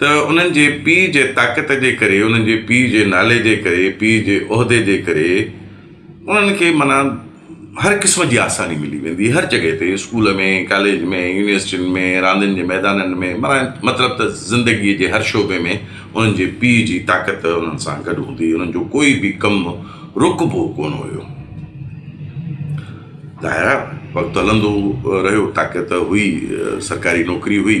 ته انهن جي پيء جي طاقت جي ڪري، انهن جي پيء جي نالي جي ڪري، پيء جي عهدي جي ڪري انهن کي معنيٰ هر قسم جي آساني ملي ويندي هر جڳهه تي اسڪول ۾ ڪاليج ۾ يونيورسٽين ۾ راندين جي ميدانن ۾ معنيٰ مطلب ته زندگيء جي هر شعبي ۾ انهن جي پيء جي طاقت انهن سان گڏ هوندي انهن جو ڪوئي به ڪم رڪبو ڪونه هيو ظاهر آهي وقت هلندو رهيو طاقت هئي سرڪاري نوڪري هئي.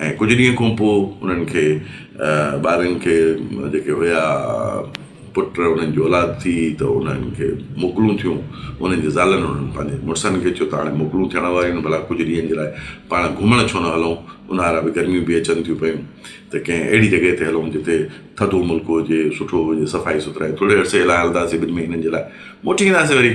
۽ ڪجهه ڏينهن کان پوء انهن کي ٻارن کي جيڪي هيا پٽ انهن جي اولاد ٿي ته انهن کي موڪلون ٿيون انهن جي زالن انهن پنهنجي مڙسن کي چيو ته هاڻي موڪلون ٿيڻ واريون آهن ڀلا ڪجهه ڏينهن جي لاء پاڻ گهمڻ ڇو نه هلون اونهارا به گرميون به اچن ٿيون پيون ته ڪنهن اهڙي جڳهه تي هلون جتي ٿڌو ملڪ هجي سٺو هجي صفائي سٿرائي ٿوري عرصي لاء هلنداسين ٻن مهينن جي لاء موٽي اينداسين وري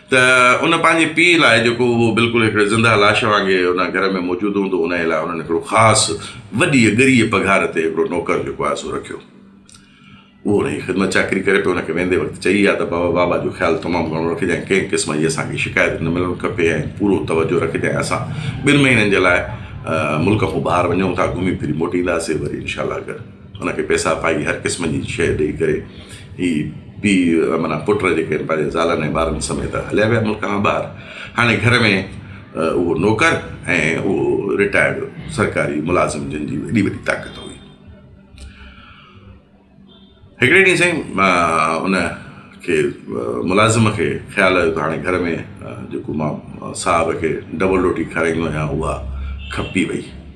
ته ان پنهنجي پيء لاء جيڪو اهو بلڪل هڪڙي زنده لاش وانگي ان گهر ۾ موجود هوندو انهيء لاء انهن هڪڙو خاص وڏيء ڳريء پگهار تي هڪڙو نوڪر جيڪو آهي سو رکيو. اهو ان جي خدمت چاڪري ڪري پيو ان کي ويندي وقت چئي آيو ته بابا بابا جو خيال تمام گهڻو رکجانء ڪنهن قسم جي اسان کي شڪايت نه ملڻ کپي ۽ پورو توجهه رکجانء اسان ٻن مهينن جي لاء ملڪ کان ٻاهر وڃون ٿا گهمي ڦري موٽينداسين وري انشاء الله اگر ان کي پيسا پائي هر قسم جي شيء ڏئي ڪري هي پيء معنيٰ پٽ جيڪي آهن پنهنجي زالن ۽ ٻارن سميت هليا ويا ملڪ کان ٻاهر. هاڻي گهر ۾ اهو نوڪر ۽ اهو رٽائرڊ سرڪاري ملازم جن جي ايڏي وڏي طاقت هئي. هڪڙي ڏينهن سائين ان کي ملازم کي خيال آيو ته هاڻي گهر ۾ جيڪو مان صاحب کي ڊبل روٽي کارائيندو آهيان اها کپي وئي.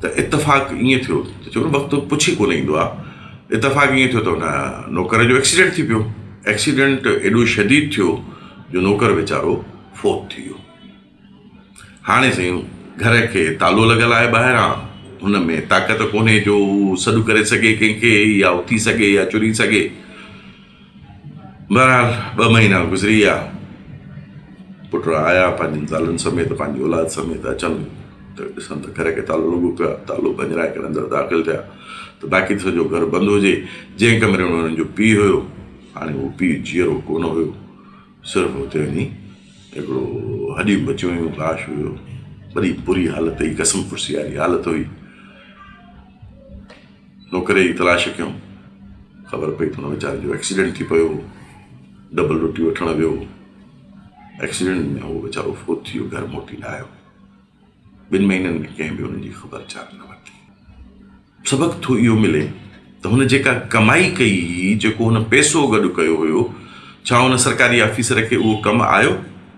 ته اتفاق ائين ٿيو ته چون وقت پڇي ڪونه ايندو آ اتفاق ائين ٿيو ته ان نوڪر جو ايڪسيڊنٽ ٿي پيو ايڪسيڊنٽ ايڏو شديد ٿيو جو نوڪر ويچارو فوت ٿي ويو هاڻي سائين گهر کي تالو لڳل آهي ٻاهران هن ۾ طاقت ڪونهي جو سڏ ڪري سگهي ڪنهن کي يا اٿي سگهي يا چري سگهي بهرحال ٻه مهينا گذري ويا. پٽڙا آيا پنهنجن زالن سميت پنهنجي اولاد سميت اچن ته ڏسن ته گهر ڪي تالو لڳو پيو آهي تالو ڀڃرائي ڪري اندر داخل ٿيا ته باقي ته سڄو گهر بند هجي جنهن ڪمري ۾ هنن جو پيء هيو هاڻي اهو پيء جيئرو ڪونه هيو صرف هتي وڃي هڪڙو هڏيون بچيون هيون لاش هيو وڏي بري حالت هئي قسم پرسي واري حالت هئي نوڪري جي تلاش ڪيم، خبر پئي ته هن ويچاري جو ايڪسيڊنٽ ٿي پيو هو، ڊبل روٽي وٺڻ ويو هو، ايڪسيڊنٽ ۾ هو ويچارو فوت ٿي ويو، گهر موٽي نه آيو، ٻن مهينن ۾ ڪنهن به هن جي خبر چار نه ورتي. سبق ٿو اهو ملي ته هن جيڪا ڪمائي ڪئي هئي، جيڪو هن پئسو گڏ ڪيو هيو، ڇا هن سرڪاري آفيسر کي اهو ڪم آيو؟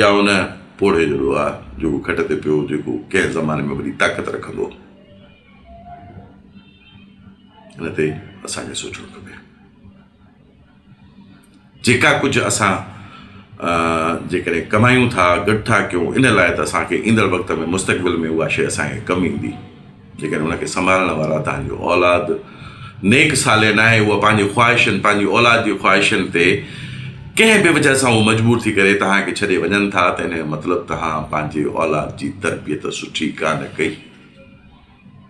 يا ان پوڙهي جو دعا جيڪو کٽ تي پيو جيڪو ڪنهن زماني ۾ وڏي طاقت رکندو ان تي اسان کي سوچڻو کپي جيڪا ڪجهه اسان جيڪڏهن ڪمايون ٿا گڏ ٿا ڪيون ان لاء ته اسان کي ايندڙ وقت ۾ مستقبل ۾ اها شيء اسان کي ڪم ايندي جيڪڏهن ان کي سنڀالڻ وارا توهان جي اولاد نيڪ صالح ناهي، اها پنهنجي خواهشن، پنهنجي اولاد جي خواهشن تي ڪنهن به وجهه سان هو مجبور ٿي ڪري توهان کي ڇڏي وڃن ٿا ته ان جو مطلب توهان پنهنجي اولاد جي تربيت سٺي ڪانه ڪئي.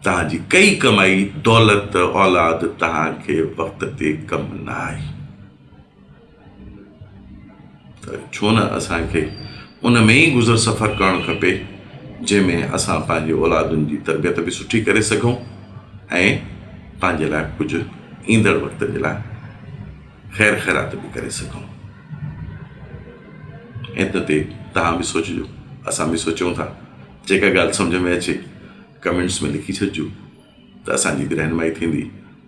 توهان جي ڪئي ڪمائي دولت اولاد توهان کي وقت تي ڪم نه آئي. ڇو نه اسان کي ان ۾ ئي گذر سفر ڪرڻ کپي جنهن ۾ اسان پنهنجي اولادن جي تربيت به سٺي ڪري سگهون ۽ پنهنجي لاء ڪجهه ايندڙ وقت جي لاء خير خيرات به ڪري سگهون ان تي تهان به سوچجو اسان به سوچيون ٿا جيڪا ڳالهه سمجهه ۾ اچي ڪمينٽس ۾ لکي ڇڏجو ته اسانجي به رهنمائي ٿيندي